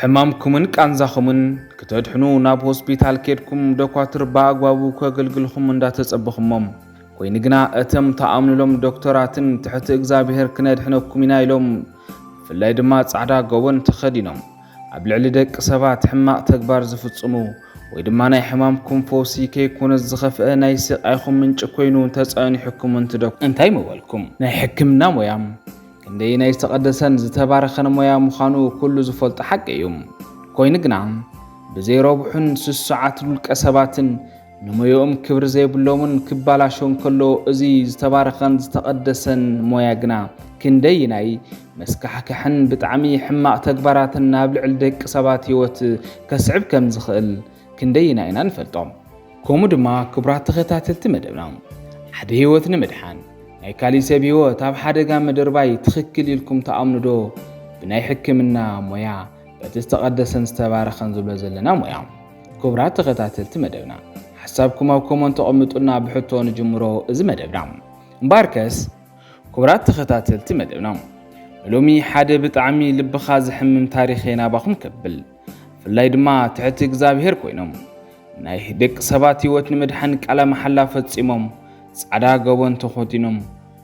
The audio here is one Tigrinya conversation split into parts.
ሕማምኩምን ቃንዛኹምን ክተድሕኑ ናብ ሆስፒታል ኬድኩም ዶኳትር ብኣግባቡ ከገልግልኹም እንዳተጸበኹሞም ኮይኑ ግና እተም ተኣምንሎም ዶክተራትን ትሕቲ እግዚኣብሔር ክነድሕነኩም ኢና ኢሎም ብፍላይ ድማ ጻዕዳ ጎቦን ተኸዲኖም ኣብ ልዕሊ ደቂ ሰባት ሕማቕ ተግባር ዝፍጽሙ ወይ ድማ ናይ ሕማምኩም ፈውሲ ከይኮነስ ዝኸፍአ ናይ ስቃይኹም ምንጪ ኮይኑ ተጸኒሑኩም እንትደኩ እንታይ ምበልኩም ናይ ሕክምና ሞያ ክንደየናይ ዝተቐደሰን ዝተባረኸን ሞያ ምዃኑ ኩሉ ዝፈልጦ ሓቂ እዩ። ኮይኑ ግና ብዘይ ረብሑን ስሱዓት ውልቀ ሰባትን ንሞያኦም ክብሪ ዘይብሎምን ክባላሾ እንከሎ እዚ ዝተባረኸን ዝተቐደሰን ሞያ ግና ክንደይናይ መስካሕክሕን ብጣዕሚ ሕማቕ ተግባራትን ናብ ልዕሊ ደቂ ሰባት ህይወት ከስዕብ ከም ዝኽእል ክንደየናይ ኢና ንፈልጦ? ከምኡ ድማ ክቡራት ተኸታተልቲ መደብና ሓደ ህይወት ንምድሓን ናይ ካሊእ ሰብ ህይወት ኣብ ሓደጋ ምድርባይ ትኽክል ኢልኩም ትኣምኑ ዶ? ብናይ ሕክምና ሞያ በቲ ዝተቐደሰን ዝተባረኸን ዝብሎ ዘለና ሞያ። ክቡራት ተኸታተልቲ መደብና ሓሳብኩም ኣብ ኮመንት ተቐምጡልና ብሕቶ ንጅምሮ እዚ መደብና እምበኣርከስ ክቡራት ተኸታተልቲ መደብና ንሎሚ ሓደ ብጣዕሚ ልብኻ ዘሕምም ታሪኸይ ናባኹም ከብል። ብፍላይ ድማ ትሕቲ እግዚኣብሔር ኮይኖም ናይ ደቂ ሰባት ህይወት ንምድሓን ቃለ መሓላ ፈጺሞም ጻዕዳ ገቦን ተኾቲኖም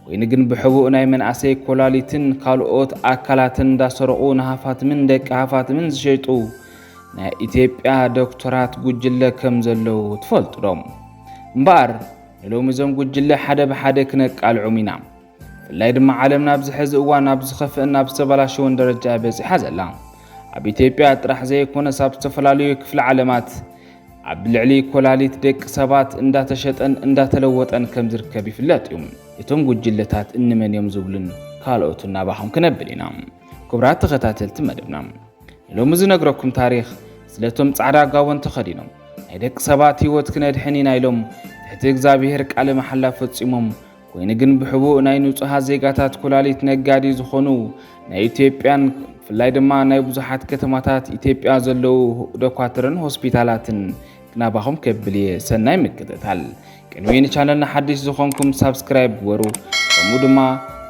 ኮይኑ ግን ብሕቡእ ናይ መንእሰይ ኮላሊትን ካልኦት ኣካላትን እንዳሰረቑ ንሃፋትምን ደቂ ሃፋትምን ዝሸጡ ናይ ኢትዮጵያ ዶክተራት ጉጅለ ከም ዘለዉ ትፈልጡ ዶ እምበኣር ንሎሚ እዞም ጉጅለ ሓደ ብሓደ ክነቃልዖም ኢና ብፍላይ ድማ ዓለምና ኣብዚ ሕዚ እዋን ናብ ዝኸፍእን ናብ ዝተበላሸወን ደረጃ እያ በፂሓ ዘላ። ኣብ ኢትዮጵያ ጥራሕ ዘይኮነስ ኣብ ዝተፈላለዩ ክፍለ ዓለማት ኣብ ልዕሊ ኮላሊት ደቂ ሰባት እንዳተሸጠን እንዳተለወጠን ከም ዝርከብ ይፍለጥ እዩ። እቶም ጉጅለታት እንመን እዮም ዝብሉን ካልኦት እናባኹም ክነብል ኢና። ክቡራት ተኸታተልቲ መደብና ንሎሚ ዝነግረኩም ታሪኽ ስለቶም ጻዕዳ ጋቦን ተኸዲኖም ናይ ደቂ ሰባት ህይወት ክነድሕን ኢና ኢሎም ትሕቲ እግዚኣብሔር ቃለ መሓላ ፈጺሞም ኮይኑ ግን ብሕቡእ ናይ ንጹሃት ዜጋታት ኩላሊት ነጋዲ ዝኾኑ ናይ ኢትዮጵያን ብፍላይ ድማ ናይ ብዙሓት ከተማታት ኢትዮጵያ ዘለዉ ዶኳትርን ሆስፒታላትን ክናባኹም ከብል እየ ሰናይ ምክትታል ቅንዊ ንቻነልና ሓድሽ ዝኾንኩም ሳብስክራይብ ግበሩ ከምኡ ድማ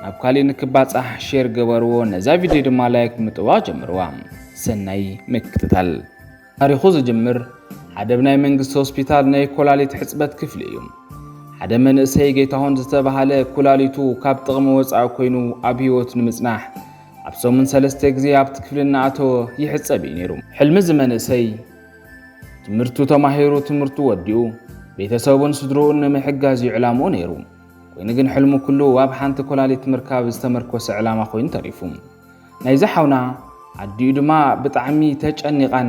ናብ ካሊእ ንክባፃሕ ሼር ገበርዎ ነዛ ቪድዮ ድማ ላይክ ምጥዋቕ ጀምርዋ ሰናይ ምክትታል ታሪኹ ዝጅምር ሓደ ብ ናይ መንግስቲ ሆስፒታል ናይ ኮላሊት ሕጽበት ክፍሊ እዩ። ሓደ መንእሰይ ጌታሁን ዝተባሃለ ኩላሊቱ ካብ ጥቕሚ ወጻኢ ኮይኑ ኣብ ህይወት ንምጽናሕ ኣብ ሰሙን ሰለስተ ግዜ ኣብቲ ክፍሊ እናኣተወ ይሕጸብ እዩ ነይሩ። ሕልሚ እዚ መንእሰይ ትምህርቱ ተማሂሩ ትምህርቱ ወዲኡ ቤተሰቡን ስድርኡን ንምሕጋዝ እዩ ዕላምኡ ነይሩ። ኮይኑ ግን ሕልሙ ኩሉ ኣብ ሓንቲ ኮላሊት ምርካብ ዝተመርኮሰ ዕላማ ኮይኑ ተሪፉ። ናይዚ ሓውና ኣዲኡ ድማ ብጣዕሚ ተጨኒቓን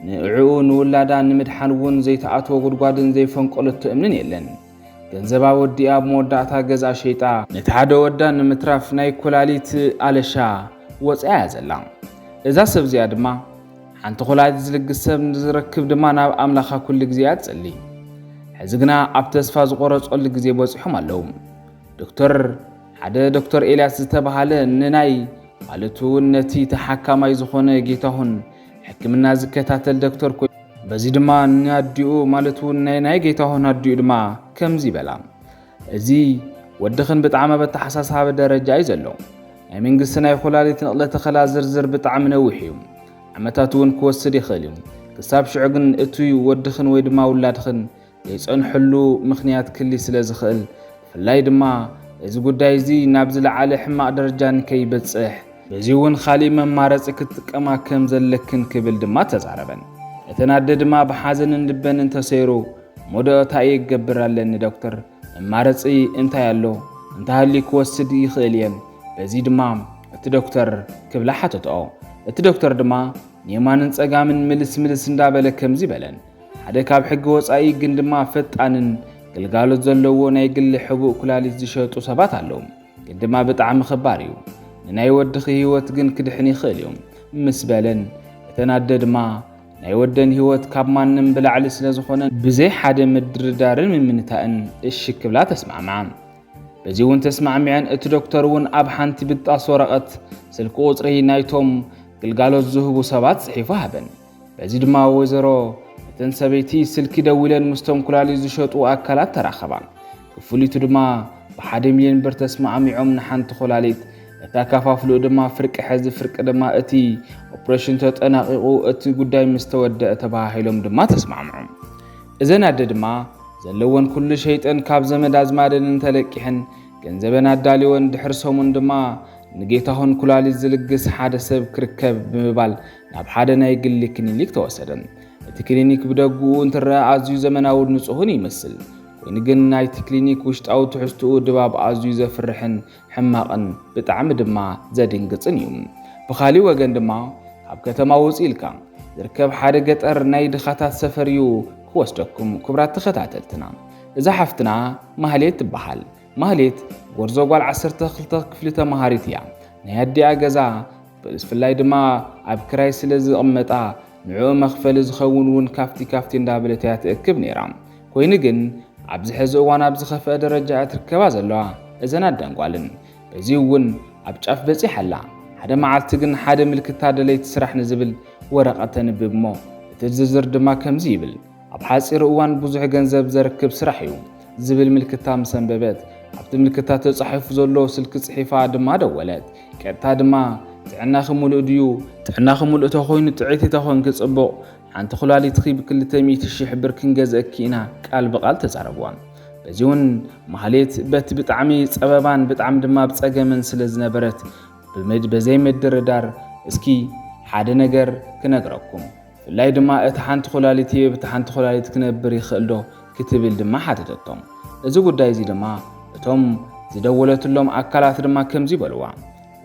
ንዕኡ ንውላዳ ንምድሓን እውን ዘይተኣትዎ ጉድጓድን ዘይፈንቀለቶ እምንን የለን። ገንዘባ ወዲኣ ኣብ መወዳእታ ገዝኣ ሸይጣ ነቲ ሓደ ወዳ ንምትራፍ ናይ ኩላሊት ኣለሻ ወፅያ እያ ዘላ እዛ ሰብ እዚኣ ድማ ሓንቲ ኩላሊት ዝልግስ ሰብ ንዝረክብ ድማ ናብ ኣምላኻ ኩሉ ግዜ እያ ትጽሊ ሕዚ ግና ኣብ ተስፋ ዝቆረጸሉ ግዜ በጺሖም ኣለዉ ዶክተር ሓደ ዶክተር ኤልያስ ዝተባሃለ ንናይ ማለት እውን ነቲ ተሓካማይ ዝኾነ ጌታሁን ሕክምና ዝከታተል ዶክተር ኮይ በዚ ድማ ንኣዲኡ ማለት እውን ናይ ናይ ጌታሁን ኣዲኡ ድማ ከምዚ በላ እዚ ወድኽን ብጣዕሚ ኣብ ኣተሓሳሳቢ ደረጃ እዩ ዘሎ ናይ መንግስቲ ናይ ኩላሊት ንቕለ ተኸላ ዝርዝር ብጣዕሚ ነዊሕ እዩ ዓመታት እውን ክወስድ ይኽእል እዩ ክሳብ ሽዑ ግን እቱይ ወድኽን ወይ ድማ ውላድኽን ዘይጸንሐሉ ምኽንያት ክሊ ስለ ዝኽእል ብፍላይ ድማ እዚ ጉዳይ እዚ ናብ ዝለዓለ ሕማቕ ደረጃ ንከይበጽሕ በዚ እውን ኻሊእ መማረጺ ክትጥቀማ ከም ዘለክን ክብል ድማ ተዛረበን። እተን ኣደ ድማ ብሓዘንን ልበን እንተሰይሩ ሞዶ እታይ እየ ክገብር ኣለኒ ዶክተር መማረጺ እንታይ ኣሎ እንተሃልዩ ክወስድ ይኽእል እየን በዚ ድማ እቲ ዶክተር ክብላ ሓተትኦ። እቲ ዶክተር ድማ ንየማንን ጸጋምን ምልስ ምልስ እንዳበለ ከምዚ በለን ሓደ ካብ ሕጊ ወፃኢ ግን ድማ ፈጣንን ግልጋሎት ዘለዎ ናይ ግሊ ሕቡእ ኩላሊት ዝሸጡ ሰባት ኣለዉ። ግን ድማ ብጣዕሚ ኽባር እዩ። ንናይ ወድኺ ህይወት ግን ክድሕን ይኽእል እዩ ምስ በለን እተን ኣደ ድማ ናይ ወደን ህይወት ካብ ማንም ብላዕሊ ስለ ዝኾነ ብዘይ ሓደ ምድርዳርን ምምንታእን እሺ ክብላ ተስማዕምዓ። በዚ እውን ተስማዕሚዐን እቲ ዶክተር እውን ኣብ ሓንቲ ብጣስ ወረቐት ስልኪ ቁፅሪ ናይቶም ግልጋሎት ዝህቡ ሰባት ፅሒፉ ሃበን። በዚ ድማ ወይዘሮ እተን ሰበይቲ ስልኪ ደዊለን ምስቶም ኩላሊት ዝሸጡ ኣካላት ተራኸባ። ክፍሊቱ ድማ ብሓደ ሚልዮን ብር ተስማዕሚዖም ንሓንቲ ኩላሊት እታ ካፋፍልኡ ድማ ፍርቂ ሕዚ ፍርቂ ድማ እቲ ኦፕሬሽን ተጠናቂቑ እቲ ጉዳይ ምስ ተወደአ ተባሃሂሎም ድማ ተስማዕምዑ። እዘን ኣደ ድማ ዘለወን ኩሉ ሸይጠን ካብ ዘመድ ኣዝማደን እንተለቂሕን ገንዘበን ኣዳልወን ድሕሪ ሰሙን ድማ ንጌታሁን ኩላሊት ዝልግስ ሓደ ሰብ ክርከብ ብምባል ናብ ሓደ ናይ ግሊ ክሊኒክ ተወሰደ። እቲ ክሊኒክ ብደግኡ እንትረአ ኣዝዩ ዘመናውን ንጹህን ይመስል። ኮይኑ ግን ናይቲ ክሊኒክ ውሽጣዊ ትሕዝትኡ ድባብ ኣዝዩ ዘፍርሕን ሕማቕን ብጣዕሚ ድማ ዘድንግጽን እዩ። ብኻሊእ ወገን ድማ ካብ ከተማ ውጽእ ኢልካ ዝርከብ ሓደ ገጠር ናይ ድኻታት ሰፈር እዩ ክወስደኩም ክብራት ተኸታተልትና። እዛ ሓፍትና ማህሌት ትበሃል። ማህሌት ጎርዞ ጓል 12 ክፍሊ ተመሃሪት እያ። ናይ ኣዲኣ ገዛ ብፍላይ ድማ ኣብ ክራይ ስለ ዝቕመጣ ንዕኡ መኽፈሊ ዝኸውን እውን ካፍቲ ካፍቲ እንዳበለት እያ ትእክብ ነይራ። ኮይኑ ግን ኣብዚ ሕዚ እዋን ኣብ ዝኸፍአ ደረጃ እያ ትርከባ ዘለዋ እዘን ኣደን ጓልን። በዚ እውን ኣብ ጫፍ በፂሓ ኣላ። ሓደ መዓልቲ ግን ሓደ ምልክታ ደለይቲ ስራሕ ንዝብል ወረቐት ተንብብ እሞ እቲ ዝርዝር ድማ ከምዚ ይብል። ኣብ ሓፂር እዋን ብዙሕ ገንዘብ ዘርክብ ስራሕ እዩ ዝብል ምልክታ ምስ ኣንበበት ኣብቲ ምልክታ ተፃሒፉ ዘሎ ስልኪ ፅሒፋ ድማ ደወለት። ቀጥታ ድማ ጥዕናኺ ሙሉእ ድዩ? ጥዕናኺ ሙሉእ ተኾይኑ ጥዕይቲ ተኾንኪ ፅቡቕ፣ ሓንቲ ኩላሊትኺ ብክልተ ሚእቲ ሽሕ ብር ክንገዝኣኪ ኢና ቃል ብቓል ተዛረቡዋ። በዚውን ማህሌት በቲ ብጣዕሚ ፀበባን ብጣዕሚ ድማ ኣብ ፀገምን ስለ ዝነበረት ብዘይምድርዳር እስኪ ሓደ ነገር ክነግረኩም ብፍላይ ድማ እቲ ሓንቲ ኩላሊት ይህብ እቲ ሓንቲ ኩላሊት ክነብር ይኽእል ዶ ክትብል ድማ ሓተተቶም። እዚ ጉዳይ እዚ ድማ እቶም ዝደወለትሎም ኣካላት ድማ ከምዚ በልዋ፣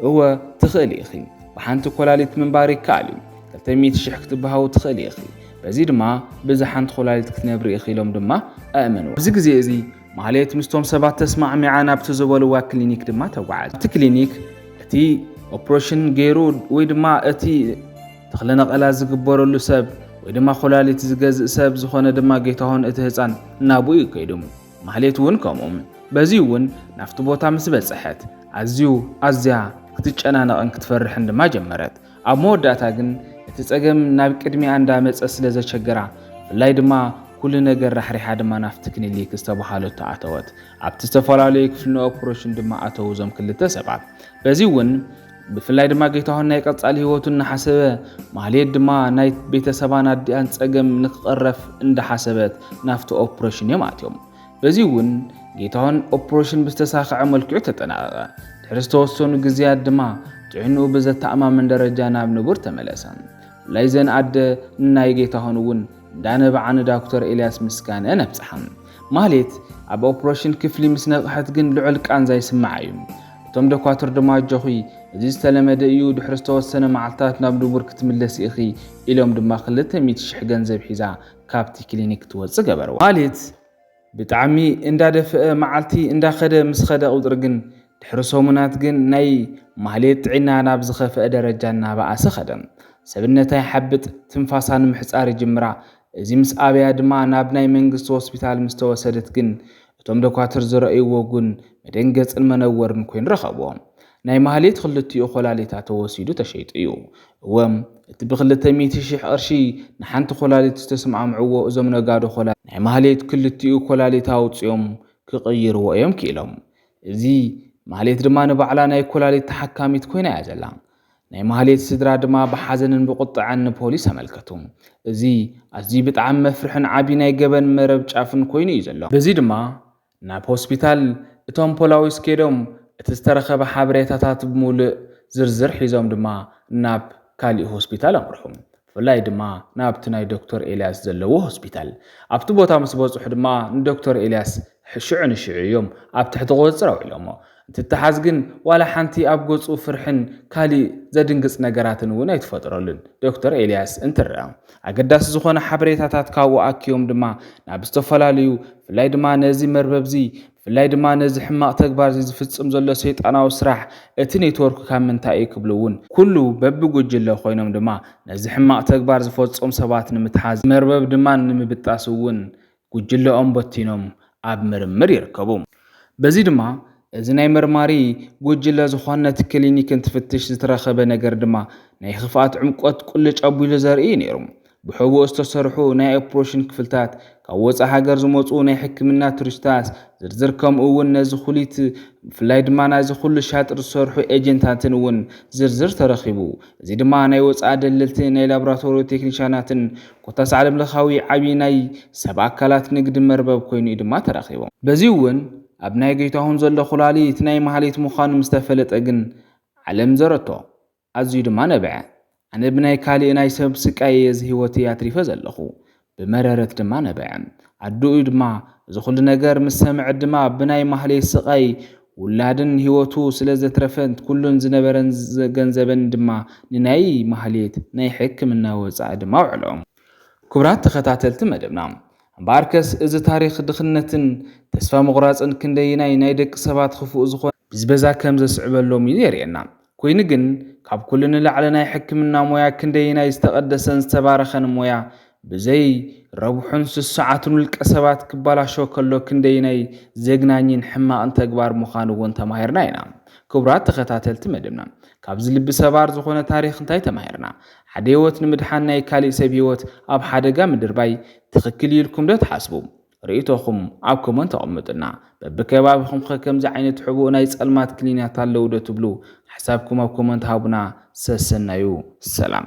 እወ ትኽእሊ ኢኺ፣ ብሓንቲ ኮላሊት ምንባር ይከኣል እዩ፣ ክልተ ሚእቲ ሽሕ ክትበሃዊ ትኽእሊ ኢኺ፣ በዚ ድማ ብዛ ሓንቲ ኮላሊት ክትነብሪ ኢኺ ኢሎም ድማ ኣእመንዋ። ኣብዚ ግዜ እዚ ማህሌት ምስቶም ሰባት ተስማዕሚዓ ናብቲ ዝበልዋ ክሊኒክ ድማ ተጓዓዘት። ኣብቲ ክሊኒክ እቲ ኦፕሬሽን ገይሩ ወይ ድማ እቲ ተኽለ ነቐላ ዝግበረሉ ሰብ ወይ ድማ ኮላሊት ዝገዝእ ሰብ ዝኾነ ድማ ጌታሁን እቲ ህፃን እናብኡ እዩ ከይዱ። ማህሌት እውን ከምኡ። በዚ እውን ናፍቲ ቦታ ምስ በፀሐት ኣዝዩ ኣዝያ ክትጨናነቕን ክትፈርሕን ድማ ጀመረት። ኣብ መወዳእታ ግን እቲ ፀገም ናብ ቅድሚያ እንዳመፀ ስለ ዘቸገራ ብፍላይ ድማ ኩሉ ነገር ራሕሪሓ ድማ ናፍቲ ክሊኒክ ዝተባሃለቶ ኣተወት። ኣብቲ ዝተፈላለዩ ክፍሊ ኦፕሬሽን ድማ ኣተው እዞም ክልተ ሰባት። በዚ እውን ብፍላይ ድማ ጌታሁን ናይ ቀጻሊ ህይወቱ እናሓሰበ ማህሌት ድማ ናይ ቤተሰባን ኣዲኣን ጸገም ንክቐረፍ እንዳሓሰበት ናፍቲ ኦፕሬሽን እዮም ኣትዮም። በዚ እውን ጌታሁን ኦፕሬሽን ብዝተሳኸዐ መልክዑ ተጠናቐቐ። ድሕሪ ዝተወሰኑ ግዜያት ድማ ጥዕንኡ ብዘተኣማምን ደረጃ ናብ ንቡር ተመለሰ። ብፍላይ ዘን ኣደ ንናይ ጌታሁን እውን እንዳነበዓ ንዳኩተር ኤልያስ ምስጋንኤን ኣብጽሓ። ማሌት ኣብ ኦፕሮሽን ክፍሊ ምስ ነቕሐት ግን ልዑል ቃንዛ ይስምዓ እዩ። እቶም ደኳትር ድማ ኣጆኺ እዚ ዝተለመደ እዩ ድሕሪ ዝተወሰነ መዓልታት ናብ ንቡር ክትምለሲ ኢኺ ኢሎም ድማ ክልተ ሚእቲ ሽሕ ገንዘብ ሒዛ ካብቲ ክሊኒክ ክትወጽእ ገበርዋ። ማሌት ብጣዕሚ እንዳደፈኣ መዓልቲ እንዳኸደ ምስ ኸደ ቁጽሪ ግን ድሕሪ ሰሙናት ግን ናይ ማህሌት ጥዒና ናብ ዝኸፍኣ ደረጃ እናበኣሰ ከደ። ሰብነታ ይሓብጥ፣ ትንፋሳ ንምሕጻር ይጅምራ። እዚ ምስ ኣበያ ድማ ናብ ናይ መንግስቲ ሆስፒታል ምስ ተወሰደት ግን እቶም ደኳትር ዝረእዩዎ ጉን መደንገጽን መነወርን ኮይኑ ረኸቡዎ። ናይ ማህሌት ክልቲኡ ኮላሊታ ተወሲዱ ተሸይጡ እዩ። እወ እቲ ብክልተ ሚእቲ ሽሕ ቅርሺ ንሓንቲ ኮላሊት ዝተስማዕምዑዎ እዞም ነጋዶ ኮላሊት ናይ ማህሌት ክልቲኡ ኮላሊታ ኣውጺኦም ክቕይሩዎ እዮም ክኢሎም። እዚ ማህሌት ድማ ንባዕላ ናይ ኩላሊት ተሓካሚት ኮይና እያ ዘላ። ናይ ማህሌት ስድራ ድማ ብሓዘንን ብቁጠዐን ንፖሊስ ኣመልከቱ። እዚ ኣዝዩ ብጣዕሚ መፍርሕን ዓቢ ናይ ገበን መረብ ጫፍን ኮይኑ እዩ ዘሎ። በዚ ድማ ናብ ሆስፒታል እቶም ፖላዊስ ከይዶም እቲ ዝተረኸበ ሓበሬታታት ብሙልእ ዝርዝር ሒዞም ድማ ናብ ካሊእ ሆስፒታል ኣምርሑ። ብፍላይ ድማ ናብቲ ናይ ዶክተር ኤልያስ ዘለዎ ሆስፒታል። ኣብቲ ቦታ ምስ በጽሑ ድማ ንዶክተር ኤልያስ ሽዑ ንሽዑ እዮም ኣብ ትሕቲ ቁጽጽር ኣውዒሎሞ። እንትተሓዝ ግን ዋላ ሓንቲ ኣብ ገጹ ፍርሕን ካሊእ ዘድንግጽ ነገራትን እውን ኣይትፈጥረሉን ዶክተር ኤልያስ እንትረኣ። ኣገዳሲ ዝኾነ ሓበሬታታት ካብኡ ኣኪቦም ድማ ናብ ዝተፈላለዩ ብፍላይ ድማ ነዚ መርበብዚ ብፍላይ ድማ ነዚ ሕማቕ ተግባርዚ ዝፍጽም ዘሎ ሰይጣናዊ ስራሕ እቲ ኔትወርክ ካብ ምንታይ እዩ ክብሉ እውን ኩሉ በብጉጅለ ኮይኖም ድማ ነዚ ሕማቕ ተግባር ዝፈጾም ሰባት ንምትሓዝ መርበብ ድማ ንምብጣስ እውን ጉጅለኦም በቲኖም ኣብ ምርምር ይርከቡ። በዚ ድማ እዚ ናይ መርማሪ ጉጅለ ዝኾን ነቲ ክሊኒክ እንትፍትሽ ዝተረኸበ ነገር ድማ ናይ ኽፍኣት ዕምቆት ቁልጭ ኣቢሉ ዘርኢ እዩ ነይሩ። ብሕቡእ ዝተሰርሑ ናይ ኦፕሮሽን ክፍልታት፣ ካብ ወጻእ ሃገር ዝመጹ ናይ ሕክምና ቱሪስታስ ዝርዝር ከምኡ እውን ነዚ ኩሊት ብፍላይ ድማ ናይዚ ኩሉ ሻጥር ዝሰርሑ ኤጀንታትን እውን ዝርዝር ተረኺቡ። እዚ ድማ ናይ ወጻኢ ደለልቲ ናይ ላብራቶሪ ቴክኒሻናትን ኮታስ ዓለም ለኻዊ ዓቢ ናይ ሰብ ኣካላት ንግዲ መርበብ ኮይኑ እዩ ድማ ተረኺቡ። በዚ እውን ኣብ ናይ ገይታሁን ዘሎ ኩላሊት ናይ ማህሌት ምዃኑ ምስ ተፈለጠ ግን ዓለም ዘረቶ። ኣዝዩ ድማ ነብዐ። ኣነ ብናይ ካልእ ናይ ሰብ ስቃይ እየ እዚ ህይወተይ ኣትሪፈ ዘለኹ። ብመረረት ድማ ነበዐ። ኣደኡ ድማ እዚ ኹሉ ነገር ምስ ሰምዐት ድማ ብናይ ማህሌት ስቓይ ውላድን ህይወቱ ስለ ዘትረፈት ኩሉን ዝነበረን ገንዘበን ድማ ንናይ ማህሌት ናይ ሕክምና ወጻኢ ድማ ኣውዐሎ። ክቡራት ተኸታተልቲ መደብና እምበኣርከስ እዚ ታሪኽ ድኽነትን ተስፋ ምቑራጽን ክንደየናይ ናይ ደቂ ሰባት ኽፉእ ዝኾነ፣ ብዝበዛ ከም ዘስዕበሎም እዩ የርእየና። ኰይኑ ግን፣ ካብ ኵሉ ንላዕሊ ናይ ሕክምና ሞያ ክንደየናይ ዝተቐደሰን ዝተባረኸን ሞያ ብዘይ ረብሑን ስሱዓትን ውልቀሰባት ክበላሾ ከሎ ክንደየናይ ዘግናኝን ሕማቕን ተግባር ምዃኑ እውን ተማሂርና ኢና። ክቡራት ተኸታተልቲ መደብና፣ ካብዚ ልቢ ሰባር ዝዀነ ታሪኽ እንታይ ተማሂርና? ሓደ ህይወት ንምድሓን ናይ ካሊእ ሰብ ህይወት ኣብ ሓደጋ ምድርባይ ትኽክል እዩ ኢልኩምዶ ትሓስቡ? ርእይቶኹም ኣብ ኮመንት ኣቕምጡልና። በብከባቢኹም ኸ ከምዚ ዓይነት ሕቡእ ናይ ጸልማት ክሊኒያት ኣለዉ ዶ ትብሉ? ሓሳብኩም ኣብ ኮመንት ሃቡና። ሰሰናዩ። ሰላም።